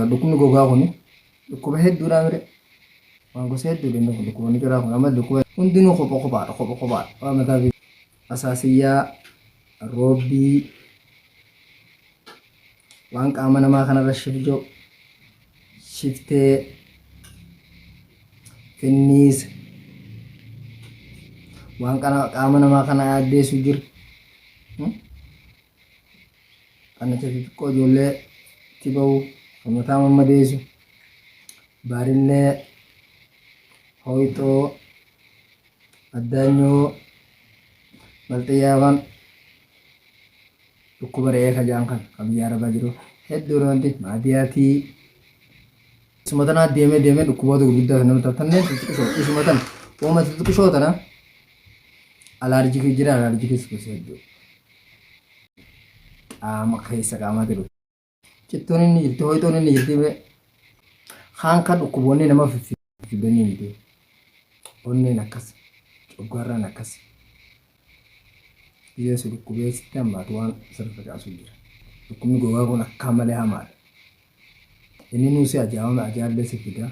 Dhukkubni gogaa kun dhukkuba hedduudhaa mire waan gosa hedduu danda'u kun dhukkuboonni garaa kun amma dhukkuba hundinuu kopha kophaadha kopha kophaadha waan mataa fi asaasiyyaa roobbii waan qaama namaa kanarra shibjo shiftee finniisa waan qaama namaa kana addeessu jiru. qannacha xixiqqoo ijoollee itti ba'u kan mataa mammadeessu baarillee hooyxoo addaanyoo balxiyyaawwan dhukkuba re'ee kajaan kan kan biyya arabaa jiru hedduu roonti maadiyaatii isuma tanaa deemee deemee dhukkuboota gurguddaa kan nama taatanneen xixiqqisoo isuma tana uuma xixiqqisoo tana alaarjikii jira alaarjikii suusa hedduu qaama keessa qaamatti dhufu. Cittoon inni jirti hoitoon inni jirti bee kaan kan dhukkuboonni nama fiffidanii miti. Onneen akkas coggaarraan akkas dhiyeessu dhukkubee sitti hammaatu waan sirriitti kaasuu jira. Dhukkubni gogaa kun akkaan malee hamaadha. Inni nuu si ajaa'uun ajaallee si fida.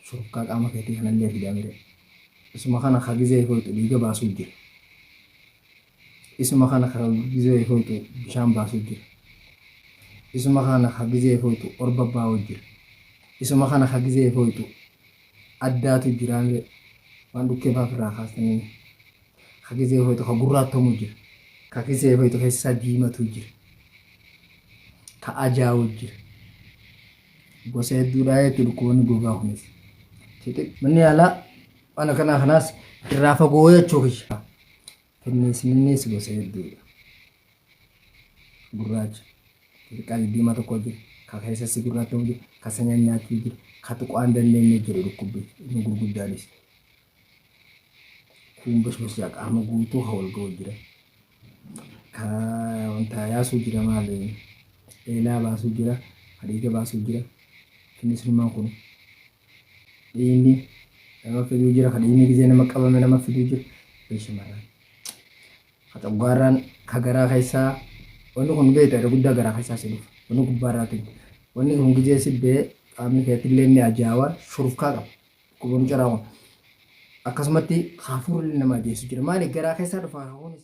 Shurukkaa qaama keetii kanallee fida mire. Isuma kana ka gizee hin hoyxu dhiiga baasuu jira. Isuma kana ka gizee hin hoyxu bishaan baasuu jira. Isuma kana ka gizee hin hoyxu orba baa'uu jira. Isuma kana ka gizee hin hoyxu addaatu jira mire. Waan dhukkee fa'aa ofirraa kaastanii. ka gizee hoyxu ka gurraattomu jira ka gizee hoyxu keessaa diimatu jira ka ajaa'u jira gosa hedduudha jechuudha dhukkuboonni gogaa kunis manni yaalaa waan akkanaa kanaas irraa fagoo jechuu kiyya finniisniinis gosa hedduudha gurraacha xixiqqaa diimaa tokko jira ka keessassi gurraattomu jira ka sanyaan nyaachuu jira ka tuqaan dandeenye jira dhukkubbi inni gurguddaanis Kun bashbas yaa qaama guutuu haa wal ga'u jira. Ka wanta yaasuu jira maali? Eelaa baasuu jira, hadiida baasuu jira. Innis ilmaan kun dhiinni nama fiduu jira, ka dhiinni gizee nama qabame nama fiduu jira. Bee shamarran. Ka xoggaarraan ka garaa keessaa wanni kun beekta irra guddaa garaa keessaa si dhufa. Wanni gubbaarraa tuju. Wanni kun gizee si bee qaamni keetillee ni ajaawa shurufkaa qaba. Obbo Mucaraawwan. Akkasumatti hafuurri ilmi namaa geessu jira. Maali garaa keessaa dhufa hafuunis.